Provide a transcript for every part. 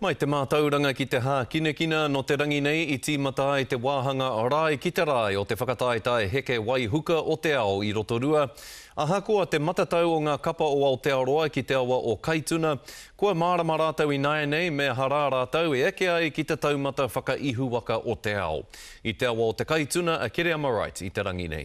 Mai te mātauranga ki te hākinakina, nō te rangi nei i tīmata ai te wāhanga Rae ki te Rae o te whakataetae heke waihuka o te ao i Rotorua. Ahakoa te matatau o ngā kapa o Aotearoa ki te awa o Kaituna, kua mārama rātou ināianei me aha rā rātou e eke ai ki te taumata whakaihuwaka o te ao. I te awa o te Kaituna a Kereama Wright i te rangi nei.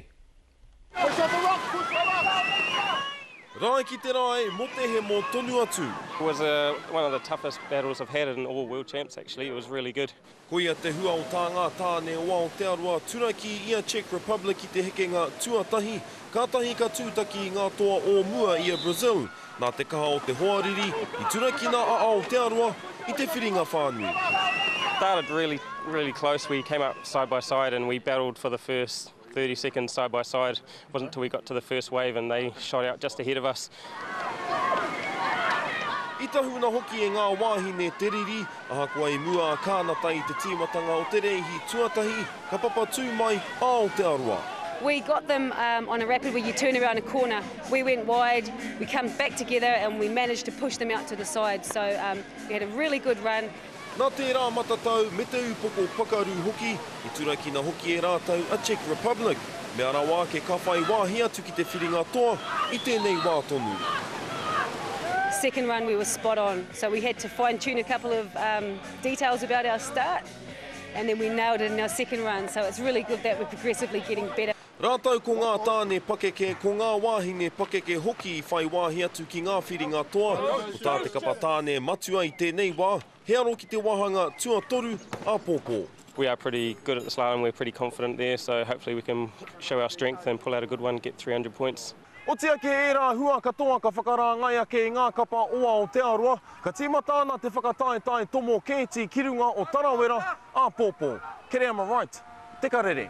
Rae ki te rae mo te hemo tonu atu. It was a one of the toughest battles I've had in all world champs actually, it was really good. Koia te hua o tā ngā tāne o Aotearoa turaki i a Czech Republic i te hekenga tuatahi, kātahi ka tūtaki i ngā toa o mua i a Brazil. Nā te kaha o te hoariri, i turakina a Aotearoa i te whiringa whānui. Started really, really close, we came up side by side and we battled for the first 30 seconds side by side. It wasn't until we got to the first wave and they shot out just ahead of us. I tahuna hoki e ngā wāhine te riri, ahakoa i mua a Kānata i te tīmatanga o te rēhi tuatahi, ka papatū mai a Aotearoa. We got them um, on a rapid where you turn around a corner. We went wide, we came back together and we managed to push them out to the side. So um, we had a really good run. Nā tērā matatau me te upoko pakaru hoki, i turakina hoki e rātou a Czech Republic, mea rawa ake ka whai wāhi atu ki te whiringa toa i tēnei wā tonu. Second one we were spot on, so we had to fine tune a couple of details about our start and then we nailed it in our second run, so it's really good that we're progressively getting better. Rātou ko ngā tāne pakeke, ko ngā wāhine pakeke hoki i whai wāhi atu ki ngā whiringa toa, ko tā te kapa tāne matua i tēnei wā, he aro ki te wāhanga tuatoru āpōpō. We are pretty good at the slalom, we're pretty confident there, so hopefully we can show our strength and pull out a good one, get 300 points. Oti ake ērā hua katoa ka whakarāngai ake i ngā kapa o Aotearoa, ka tīmata ana te whakataetae tomo kēti ki runga o Tarawera, āpōpō. Kereama Wright, Te Karere.